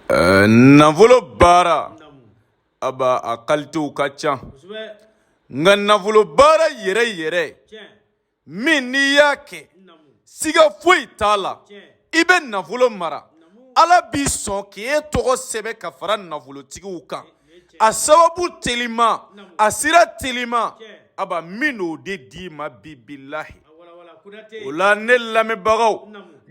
Ɛɛ nafolo baara aba a kalitew ka ca nka nafolo baara yɛrɛ yɛrɛ min n'i y'a kɛ siga foyi t'a la i bɛ nafolo mara ala b'i sɔn k'i ye tɔgɔ sɛbɛn ka fara nafolotigiw kan a sababu telima a sira telima aba n bɛn'o de d'i ma bibilahi o la ne lamɛnbagaw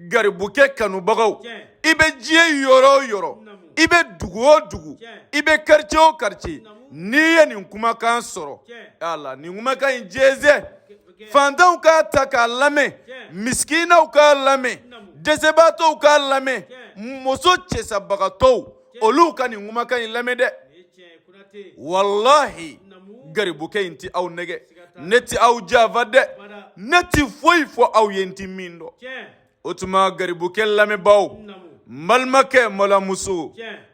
garibukɛ kanubagaw i bɛ diɲɛ yɔrɔ o yɔrɔ i bɛ dugu o dugu i bɛ karice o karice n'i ye nin kumakan sɔrɔ ala nin kumakan in jɛnsɛn faantanw k'a ta k'a lamɛn misikinaw k'a lamɛn dɛsɛbaatɔw k'a lamɛn muso cɛsabagatɔw olu ka nin kumakan in lamɛn dɛ walahi garibukɛ in tɛ aw nɛgɛn ne tɛ aw janfa dɛ ne tɛ foyi fɔ aw ye n tɛ min dɔn o tuma garibukɛ lamɛnbaaw n balimakɛ balimamuso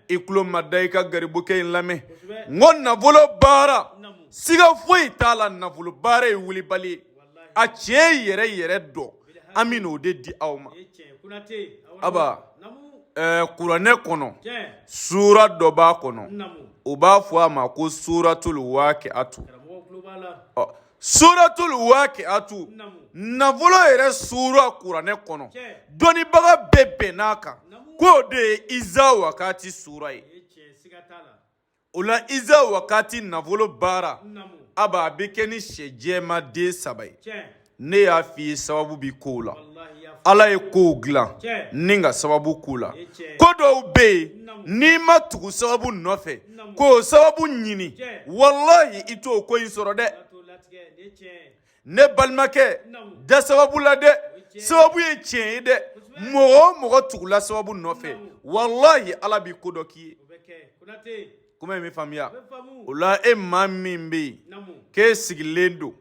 i tulo mada i ka garibukɛ in lamɛn n ko nafolo baara siga foyi t'a la nafolo baara ye wulibali ye a tiɲɛ yɛrɛ yɛrɛ don an bɛna o de di aw ma aba kuranɛ kɔnɔ sura dɔ b'a kɔnɔ u b'a fɔ a ma ko suratuli wakiyatu suratuli wakiyatu nafolo yɛrɛ sura kuranɛ kɔnɔ dɔnniibaga bɛɛ bɛnn'a kan k'o de ye iza wakati sura ye o la iza wakati nafolo baara aba a bɛ kɛ ni sɛ jɛman den saba ye ne y'a f'i ye sababu bi kow la ala ye kow dilan ni ka sababu k'u la ko dɔw bɛ yen n'i ma tugu sababu nɔfɛ k'o sababu ɲini walahi i t'o ko in sɔrɔ dɛ ne balimakɛ da sababu la dɛ sababu ye tiɲɛ ye dɛ mɔgɔ o mɔgɔ tugula sababu nɔfɛ walahi ala b'i ko dɔ k'i ye kuma in bɛ faamuya o la e maa min bɛ yen k'e sigilen don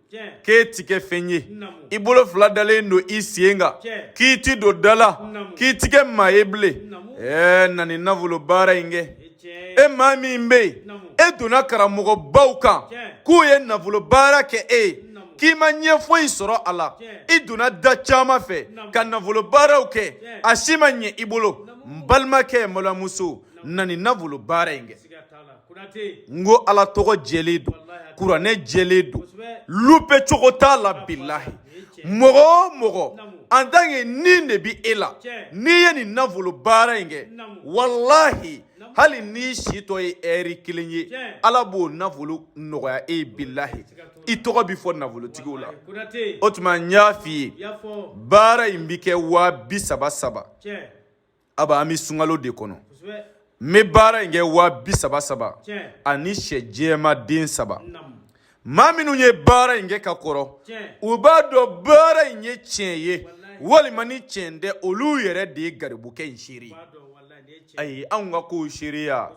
k'e ti kɛ fɛn ye i bolo fila dalen don i sen kan k'i ti don da la k'i ti kɛ maa ye bilen ɛɛ na nin nafolo baara in kɛ e maa min bɛ yen e donna karamɔgɔbaw kan k'u ye nafolo baara kɛ e ye k'i ma ɲɛ foyi sɔrɔ a la i donna da caman fɛ ka nafolo baaraw kɛ a si ma ɲɛ i bolo n balimakɛ balimamuso na nin nafolo baara in kɛ n ko Ala tɔgɔ jɛlen don kuranɛ jɛlen don loupé cogo t'a la bilahi. mɔgɔ o mɔgɔ en tant que ni de bi e la n'i ye nin nafolo baara in kɛ walahi hali n'i si tɔ ye ɛri kelen ye ala b'o nafolo nɔgɔya e ye bilahi i tɔgɔ bi fɔ nafolotigiw la o tuma n y'a f'i ye baara in bi kɛ waa bi saba saba aba an bɛ sunkalo de kɔnɔ n bɛ baara in kɛ waa bi saba saba ani sɛ jɛman den saba maa minnu ye baara in kɛ ka kɔrɔ u b'a dɔn baara in ye tiɲɛ ye walima ni tiɲɛ tɛ olu yɛrɛ de ye garibukɛ in seereya ye anw ka kow seereya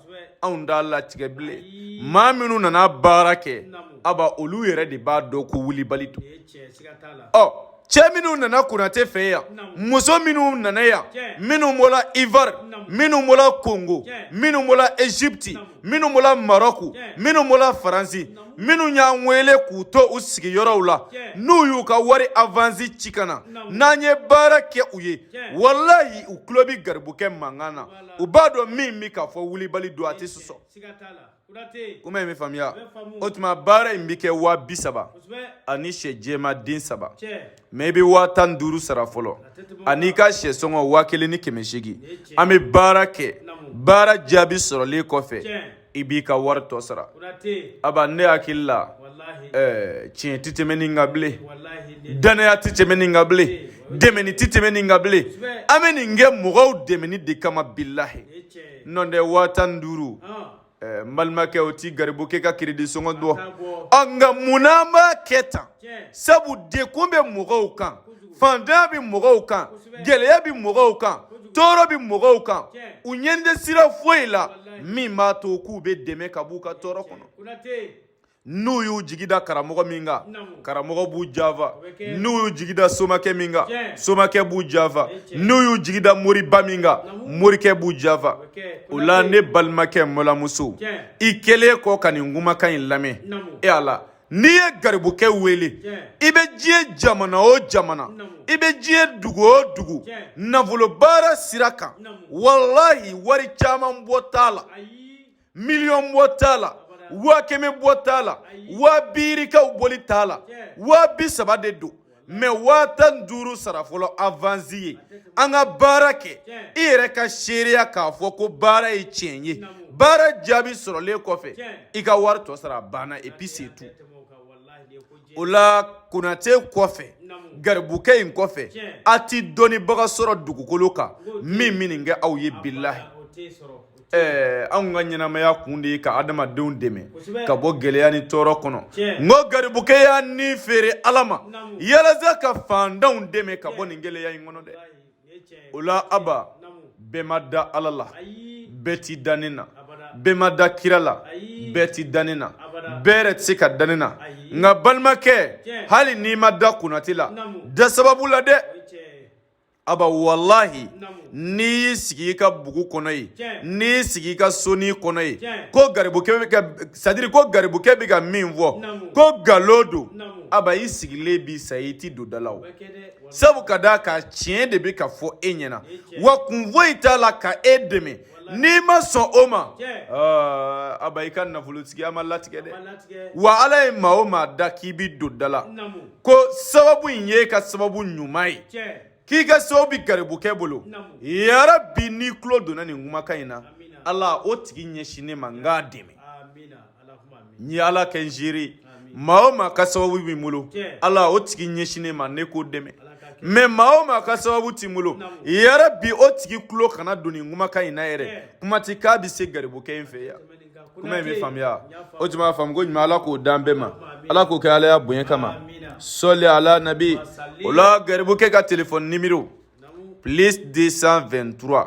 anw t'a latigɛ bilen maa minnu nana baara kɛ aba olu yɛrɛ de b'a dɔn ko wulibali don ɔ cɛ minnu nana konate fɛ yan muso minnu nana yan minnu bɔra ivar minnu bɔra kongo minnu bɔra ezipti minnu bɔra marɔku minnu bɔra faransi minnu y'an wele k'u to u sigiyɔrɔw la n'u y'u ka wari avansi ci ka na n'an ye baara kɛ u ye walayi u tulo bɛ garibukɛ mankan na u b'a dɔn min bɛ k'a fɔ wulibali don a tɛ sɔsɔ kuma ye min faamuya o tuma baara in bɛ kɛ waa bi saba ani sɛ jɛman den saba mɛ i bɛ waa tan ni duuru sara fɔlɔ ani i ka sɛ sɔngɔ waa kelen ni kɛmɛ seegin an bɛ baara kɛ baara jaabi sɔrɔlen kɔfɛ i b'i ka wari tɔ sara aba ne hakili la ɛɛ tiɲɛ tɛ tɛmɛ nin kan bilen dannaya tɛ tɛmɛ nin kan bilen dɛmɛni tɛ tɛmɛ nin kan bilen an bɛ nin kɛ mɔgɔw dɛmɛni de kama bilahi nɔntɛ waa tan ni duuru ɛɛ n balimakɛ o ti garibukɛ ka kiridi sɔngɔ bɔ ɔ nka munna an b'a kɛ tan sabu degun bɛ mɔgɔw kan fantanya bɛ mɔgɔw kan gɛlɛya bɛ mɔgɔw kan tɔɔrɔ bɛ mɔgɔw kan u ɲɛ tɛ sira foyi la min b'a to k'u bɛ dɛmɛ ka b'u ka tɔɔrɔ kɔnɔ n'u y'u jigi da karamɔgɔ min kan karamɔgɔ b'u janfa n'u y'u jigi da somakɛ min kan somakɛ b'u janfa n'u y'u jigi da moriba min kan morikɛ b'u janfa o la ne balimakɛ n balimamuso i kɛlen kɔ ka nin kumakan in lamɛn e a la n'i ye garibukɛ wele i bɛ diɲɛ jamana o jamana i bɛ diɲɛ dugu o dugu nafolobaara sira kan walahi wari caman bɔ t'a la miliyɔn bɔ t'a la waa kɛmɛ bɔ t'a la waa bi duuru ko bɔli t'a la waa bi saba de don mɛ waa tan ni duuru sara fɔlɔ avansi ye an ka baara kɛ i yɛrɛ ka seereya k'a fɔ ko baara ye tiɲɛ ye baara jaabi sɔrɔlen kɔfɛ i ka wari tɔ sara banna et puis c'est tout o la konate kɔfɛ garibukɛ in kɔfɛ a ti dɔnnibaga sɔrɔ dugukolo kan min bɛ nin kɛ aw ye bilahi ɛɛ anw ka ɲɛnamaya kun de ye ka adamadenw dɛmɛ ka bɔ gɛlɛya ni tɔɔrɔ kɔnɔ n ko garibukɛ y'a ni feere ala ma yalasa ka fantanw dɛmɛ ka bɔ nin gɛlɛya in kɔnɔ dɛ o la aba bɛɛ ma da ala la bɛɛ ti da ne na bɛɛ ma da kira la bɛɛ ti da ne na bɛɛ yɛrɛ tɛ se ka da ne na nka balimakɛ hali n'i ma da konate la da sababu la dɛ aba walahi n'i y'i sigi i ka bugu kɔnɔ yen n'i y'i sigi i ka soni kɔnɔ yen ko garibukɛ bɛ ka sadiri ko garibukɛ bɛ ka min fɔ ko nkalon don aba i sigilen bi sa i ti don da la o sabu ka d'a kan tiɲɛ de bɛ ka fɔ e ɲɛna wa kun foyi t'a la ka e dɛmɛ n'i ma sɔn o ma aba i ka nafolotigiya ma latigɛ dɛ wa ala ye maa o maa da k'i bi don da la ko sababu in ye ka sababu ɲuman ye k'i ka sababu bi garibukɛ bolo yarabi n'i tulo donna nin kumakan in na ala o tigi ɲɛsin ne ma n k'a dɛmɛ n ye ala kɛ n ziiri maa o maa ka sababu bi n bolo ala o tigi ɲɛsin ne ma ne k'o dɛmɛ mɛ maa o maa ka sababu ti n bolo yarabi o tigi tulo kana don nin kumakan in na yɛrɛ kuma ti k'a bɛ se garibukɛ in fɛ yan kuma in bɛ faamuya o tuma faamu ko ɲuman ala k'o dan bɛɛ ma ala k'o kɛ alaya bonya kama sɔli ala nabi o la garibukɛ ka telefɔni nimero plus 223